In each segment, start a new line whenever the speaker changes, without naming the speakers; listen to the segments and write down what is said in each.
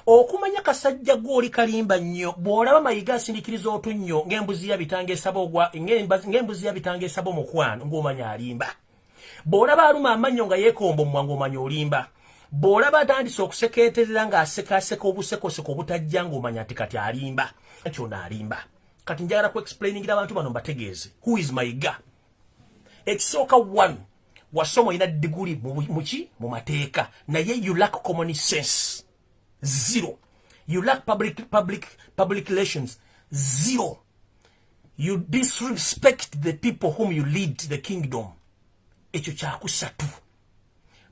okumanya kasajja gwoli kalimba nnyo bw'olaba mayiga asindikiriza otunnyo ng'embuzi yabitanga esaba ogwa ng'embuzi yabitanga esaba omukwano ng'omanya alimba bw'olaba aluma amannyo nga yeekomba omumwa ng'omanya olimba bw'olaba atandise okusekeeterera ng'asekaaseka obusekoseko obutajja ng'omanya nti kati alimba nti ono alimba kati njagala ku explainingira abantu bano mbategeeze who is mayiga ekisooka one wasoma olina diguli muki mu mateeka naye you lack common sense zero you lack public, public, public relations zero you disrespect the people whom you lead the kingdom ekyo kyakusatu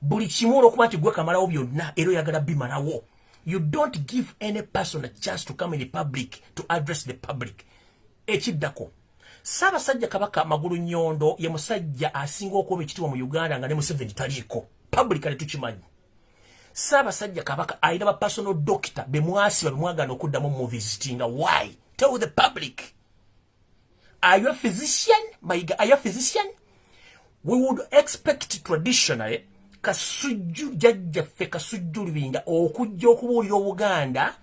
buli kimu olwokuba nti gwe kamalawo byonna era oyagala bimalawo you don't give any person a chance to come in the public to address the public ekiddako Ssaabasajja Kabaka Magulu Nyondo ye musajja asinga okuba ekitibwa mu Uganda nga ne Museveni taliiko publicly tukimanyi. Ssaabasajja Kabaka alina ba personal doctor be mwasiba be mwagaana okuddamu muvisitinga why tell the public are you a physician mayiga are you a physician we would expect traditionally kasujju jajjaffe kasujju lubinga okujja okubuulira obuganda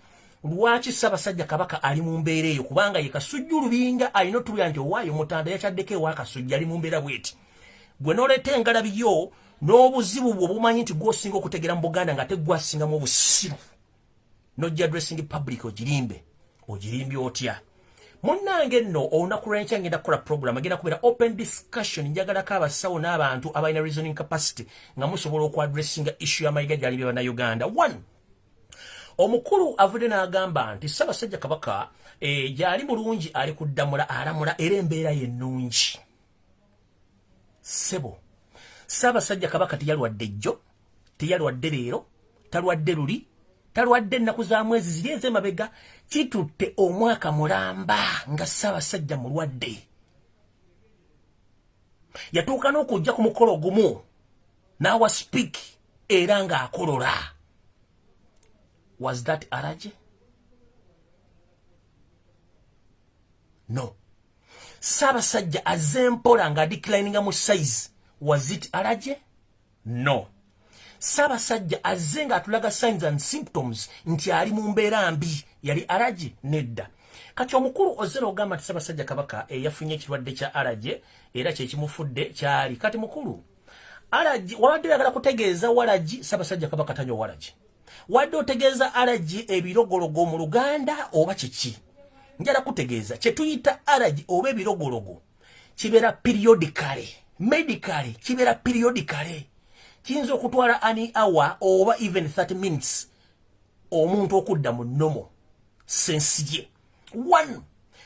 lwaki ssabasajja kabaka ali mu mbeera eyo kubanga ye kasujju lubinga alina otubira nti owaayo mutanda yakyaddeko ewa kasujju ali mu mbeera bweti gwe noleeta engalabi yo n'obuzibu bwo bumanyi nti gwosinga okutegera mu buganda nga tegwasingamu obusiru nojja addressing public ogirimbe ogirimbi otya munnange nno olunaku lwenkya ngenda kukola program agenda kubeera open discussion njagalako abasawo n'abantu abalina reasoning capacity nga musobola okuadressinga issue y'amayiga gyali bye bannayuganda one omukulu avudde n'agamba nti ssabasajja kabaka eh, gyali mulungi ali kuddamula alamula era embeera yennungi sebo ssabasajja kabaka teyalwadde jjo teyalwadde leero talwadde luli talwadde ennaku za mwezi ziri ez'emabega kitutte omwaka mulamba nga ssaabasajja mulwadde yatuuka n'okujja ku mukolo gumu n'awa speak era ng'akolola was that araje no ssaabasajja azze mpola ng'adikilininga mu size was it araje no sabasajja azze nga atulaga signs and symptoms nti ali mu mbeera mbi yali araje nedda kati omukulu ozera ogamba nti sabasajja kabaka eyafunye ekirwadde kya araje era kyekimufudde kyali kati mukulu araje wabadde oyagala kutegeeza walaji sabasajja kabaka tanywa walaji wadde otegeeza araje ebirogologo mu luganda oba kiki njala kutegeeza kyetuyita araje oba ebirogologo kibeera periodically medically kibeera periodically kiyinza okutwala ani hour oba even 30 minutes omuntu okudda mu nomo sensi ye one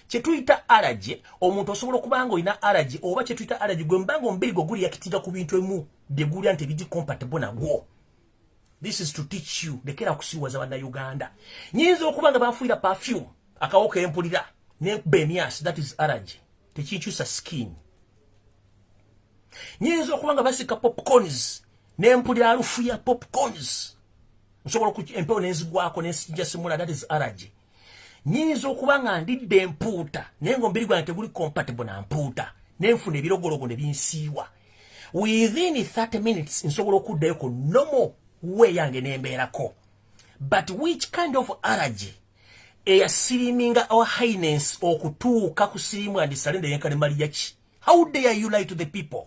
kyetuyita alaje omuntu osobola okuba nga olina alaje oba kyetuyita alaje gwe mubanga omubiri gwe guliyakitira ku bintu emu byegulya nti ebigi compatible nagwo this is to teach you lekera kusiwaza bana uganda nyinza okuba nga bafuira perfume akawo kempulira ne bemias that is allergy tekikyusa skin nyinza okuba nga basika popcorns ne mpulira alufu ya popcorns nsobola empewo nenzigwako nensijasimula that is allergy nyinza okuba nga ndidde empuuta naye nga omubiri gwange teguli compatible na mpuuta nenfuna ebirogologo ne binsiiwa within 30 minutes nsobola okuddayo ku nomo we yange nembeerako but which kind of allergy eyasiriminga our highness okutuuka ku sirimu andisale ndeyenkanemaliyaki how dare you lie to the people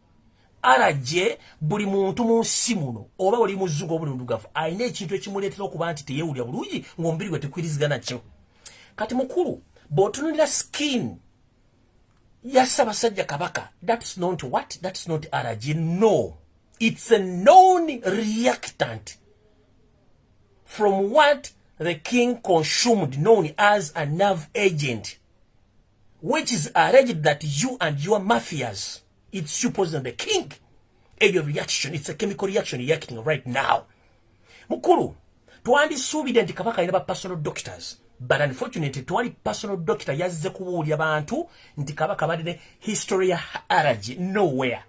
araje buli muntu mu nsi muno oba oli muzugo buli ndugavu alina ekintu ekimuleetera okuba nti teyewulira bulungi ng'omubiri gwe tekwirizigana kyo kati mukulu bw'otunulira skin ya ssabasajja kabaka thats not what thats not araje no it's a known reactant from what the king consumed known as a nerve agent which is alleged that you and your mafias it's supposed that the king eyo reaction it's a chemical reaction reacting right now mukulu twandisuubidde nti kabaka alina ba personal doctors but unfortunately twali personal doctor yazze kubuulya bantu nti kabaka balina history ya allergy nowhere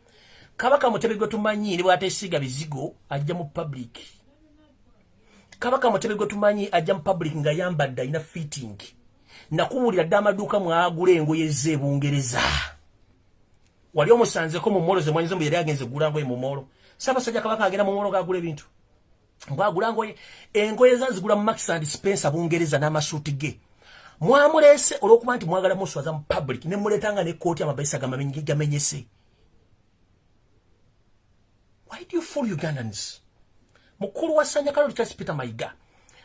kabaka mutebe gwe tumanyi ne bwatesiiga bizigo ajja mu public kabaka mutebe gwe tumanyi ajja mu public nga yambadde alina fitting nakubuulira dde amaduuka mwagula engoye ze ebungereza wali omusanzeko mu molo zemwanyize mbu yali agenze gula ngoye mu molo sabasajja kabaka agenda mu molo gagula ebintu mbwagula ngoye engoye zanzigula mu max and spencer bungereza n'amasuuti ge mwamulese olwokuba nti mwagala muswaza mu public ne muletanga ne kooti amabaisa gamenyese why do you fool ugandans mukulu wa sanya kalori charles peter maiga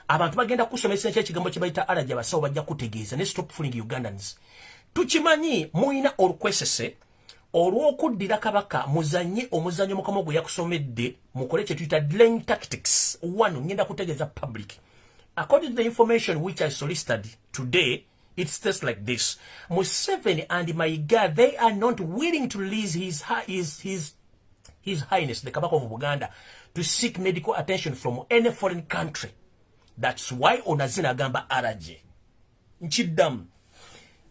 abantu bagenda kusomesa ekyo ekigambo kye bayita alaja basawo bajja kutegeeza ne stop fooling ugandans tukimanyi muyina olukwesese olw'okuddira kabaka muzanye omuzanyo mukama gwe yakusomedde mukole kye tuyita dlaying tactics one ngenda kutegeeza public according to the information which i solicited today It states like this Museveni and Maiga, they are not willing to release his, his, his, his Highness, the Kabaka of Buganda, to seek medical attention from any foreign country. That's why Onazina Gamba Araji. Nchidam.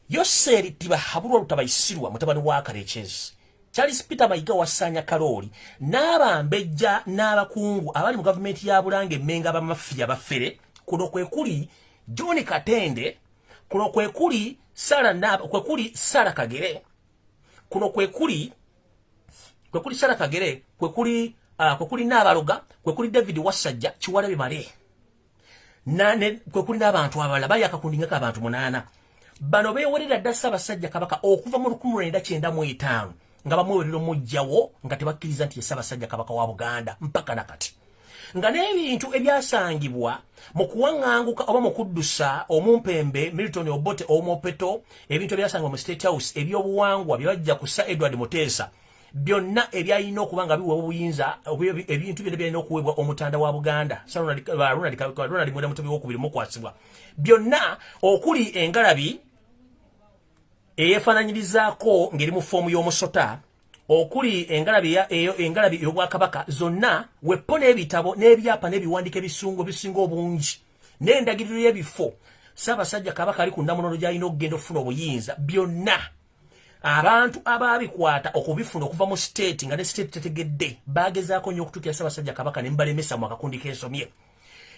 Yoseri tiba haburu utaba isiruwa, mutabani waka rechezi. Charles Peter Maiga wa Sanya Karoli, naba mbeja, naba kungu, abali mu government ya Burange, menga ba mafia ba fere, kuno kwe kuli, John Katende kuno kwe kuli Sara Naba kwe kuli Sara Kagere kuno kwe kuli kwe kuli Sara Kagere kwe kuli uh, kwe kuli Nabaloga kwe kuli David Wasajja kiwalabe male na ne kwe kuli n'abantu abalala bali akakundingako abantu munaana bano beewerera dda Ssaabasajja Kabaka okuva mu lukumu lwenda kyenda mu etaano nga bamuwerera omujjawo nga tebakkiriza nti ye ssabasajja kabaka wa buganda mpaka na kati nga n'ebintu ebyasangibwa mu kuwaŋŋanguka oba mu kuddusa omumpembe milton obote owomopeto ebintu ebyasangibwa mu state house ebyobuwangwa bye bajja kussa edward muteesa byonna ebyalina okuba nga biweebwa obuyinza ebintu byonna byalina okuweebwa omutanda wa buganda ronald mwera mutobi wokubiri mukwasibwa byonna okuli engalabi eyefananyirizaako ngeri mu foomu y'omusota okuli engalabi eyo engalabi ey'obwakabaka zonna weppo n'ebitabo n'ebyapa n'ebiwandiiko ebisungu ebisinga obungi n'endagiriro y'ebifo ssaabasajja kabaka ali ku nnamunono gy'alina okugenda okufuna obuyinza byonna abantu abaabikwata okubifuna okuva mu siteeti nga ne siteeti tetegedde baagezaako nnyo okutuukira ssaabasajja kabaka ne mbalemesa mu akakundi k'ensomye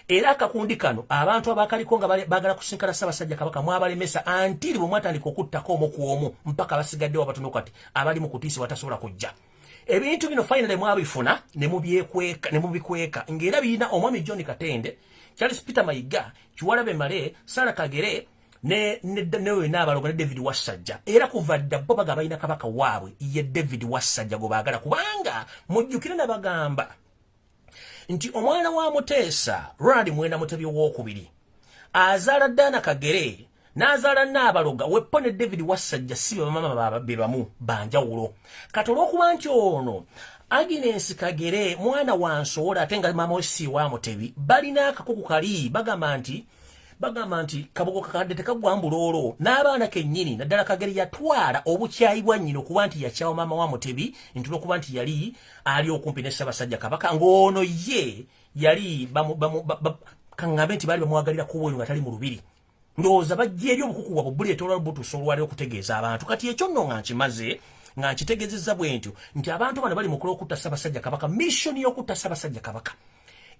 era akakundi kano abantu abakaliko nga bagala kusinkana ssabasajja kabaka mwabalemesa antiri bwe mwatandika okuttako omu ku omu mpaka abasigaddewo abatono kati abali mu kutiisa batasobola kujja ebintu bino finally mwabifuna ne mubyekweka ne mubikweka ng'era birina omwami john katende charles peter mayiga kiwalabe male sara kagere ne ne ne we na balogo ne David Wasajja era kuva dda bo bagaba ina kabaka waabwe ye David Wasajja go bagala kubanga mujjukire na bagamba nti omwana wa muteesa ronald mwenda mutebi owokubiri azaala daana kagere n'azaala naabaloga weppo ne david wassajja si bebamama be bamu banjawulo kati olwokuba nti ono agnes kagere mwana wa nsowola ate nga maama wesi wa mutebi balina akakuku kali bagamba nti bagamba nti kabugo kakadde tekagwa mbuloolo n'abaana kennyini naddala kagere yatwala obukyayi bwa nnyina okuba nti yakyawa maama wa mutebi nti lwokuba nti yali ali okumpi ne Ssabasajja Kabaka ng'ono ye yali kaŋŋambe nti baali bamwagalira kuwa oyo nga tali mu lubiri ndowooza bajja eri obukuku bwabwe buleetola butuusa olwali okutegeeza abantu kati ekyo nno nga nkimaze nga nkitegezezza bwe ntyo nti abantu bano bali mukula okutta Ssabasajja Kabaka missoni y'okutta Ssabasajja Kabaka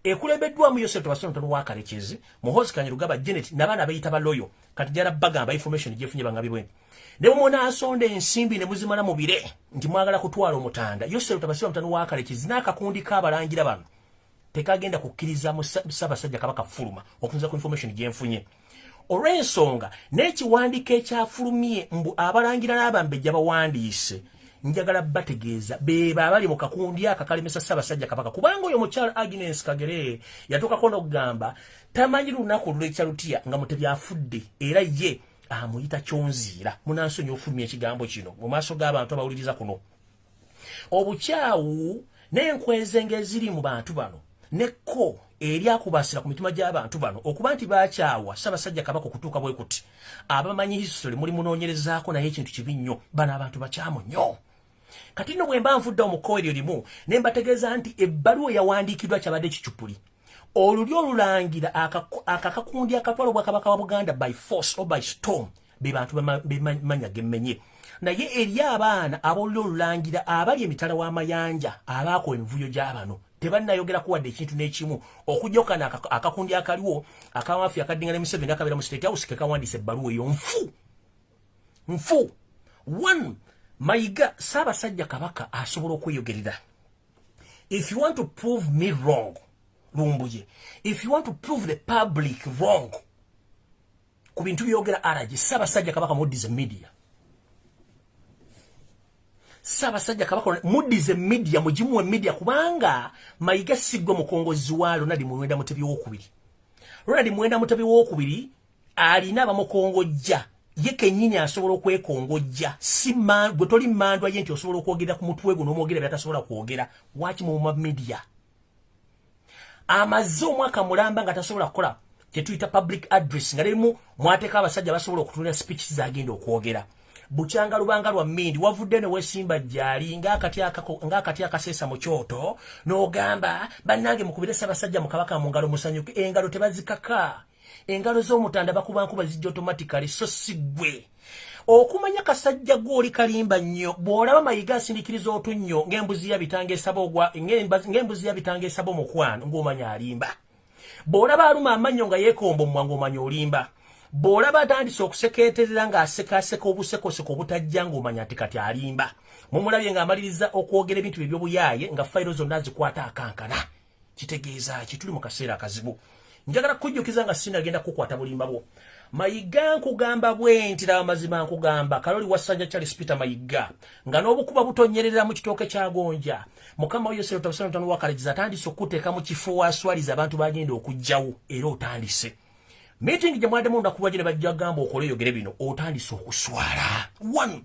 ekulembeddwamu Yosefu Tebasontono wa Kalekezi Muhoozi Kanyarugaba Janet nabaana beyita baloyo kati jara bagamba information jefunye bangabi bwe ne mumona asonde ensimbi ne muzimala mu bire nti mwagala kutwala omutanda yosero tabasiba mutano wa kale kizina akakundi ka balangira bano tekagenda kukiriza musaba sajja kabaka fuluma okunza ku information jenfunye olwensonga n'ekiwandiiko ekyafulumye mbu abalangira n'abambejja bawandiise njagala bategeeza bebo abali mu kakundi aka kalemesa ssaabasajja kabaka kubanga oyo mukyala agnes kagere yatuukako n'okugamba tamanyi lunaku olulekya lutya nga mutebi afudde era ye amuyita kyonziira munansonyi ofulumya ekigambo kino mu maaso g'abantu abawuliriza kuno obukyawu n'enkweze ng'eziri mu bantu bano nekko eryakubasira ku mitima gy'abantu bano okuba nti bakyawa ssabasajja kabaka okutuuka bwe kuti abamanyi history muli munoonyerezaako naye ekintu kibi nnyo bano abantu bakyamu nnyo kati no bwemba nfudde omukowa eryo limu ne mbategeeza nti ebbaluwa eyawandiikiddwa kyabadde kicupuli olulyo olulangira akakakundi akatwala obwakabaka wa buganda by force or by storm be bantu bemanya gemmenye naye eri abaana abolulyo olulangira abali emitala w'amayanja abaako emivuyo gy'abano tebannayogera kuwadde ekintu n'ekimu okujokana akakundi akaliwo akamafi akaddinga ne museveni akabeera mu state house kekawandiisa ebbaluwa eyo nfu nfu one mayiga saabasajja kabaka asobola okweyogerera if you want to prove me wrong lumbuye if you want to prove the public wrong ku bintu byogera aragi saabasajja kabaka muddize media saabasajja kabaka muddize media mugimuwe media kubanga mayiga sigwe mukongozi wa lonadi muwenda mutebi wokubiri lonadi muwenda mutebi wokubiri alina bamukongojja ye kenyini asobola okwekongojja si gwe toli mandwa ye nti osobola okwogera ku mutwe gwo n'omwogera byatasobola kwogera waki muma media amaze omwaka mulamba nga tasobola kukola kyetuyita public address nga lerimu mwateka abasajja basobola okutunira speech zagenda okwogera bukyanga lubanga lwa mindi wavudde ne wesimba jali nga akati akako nga akati akasesa mu kyoto n'ogamba bannange mukubire sabasajja mukabaka mu ngalo musanyuke engalo tebazikaka engalo z'omutanda bakuba nkuba zijja automatically so si gwe okumanya kasajja gwoli kalimba nnyo bw'olaba mayiga asindikiriza otunnyo ng'embuzi yabitanga esaba ogwa ng'embuzi yabitanga esaba omukwano ng'omanya alimba bw'olaba aluma amannyo nga yeekomba omwa ng'omanya olimba bw'olaba atandise okusekeeterera ng'asekaaseka obusekoseko obutajja ng'omanya nti kati alimba mumulabye ng'amaliriza okwogera ebintu bye by'obuyaaye nga fayiro zonna azikwata akankana kitegeeza ki tuli mu kaseera akazibu njagala kujjukiza nga sinagenda kukwata bulimba bwo mayiga nkugamba bwenti laba mazima nkugamba kaloli wasanja charles peter mayiga nga n'obukuba butonyerera mu kitooke kya gonja mukama wo yosero tabusana tano wakalejiza atandise okuteeka mu kifo waswaliza abantu bagenda okujjawo era otandise meeting gye mwademu ndakuba gye ne bajja gamba okola eyogere bino otandise okuswala one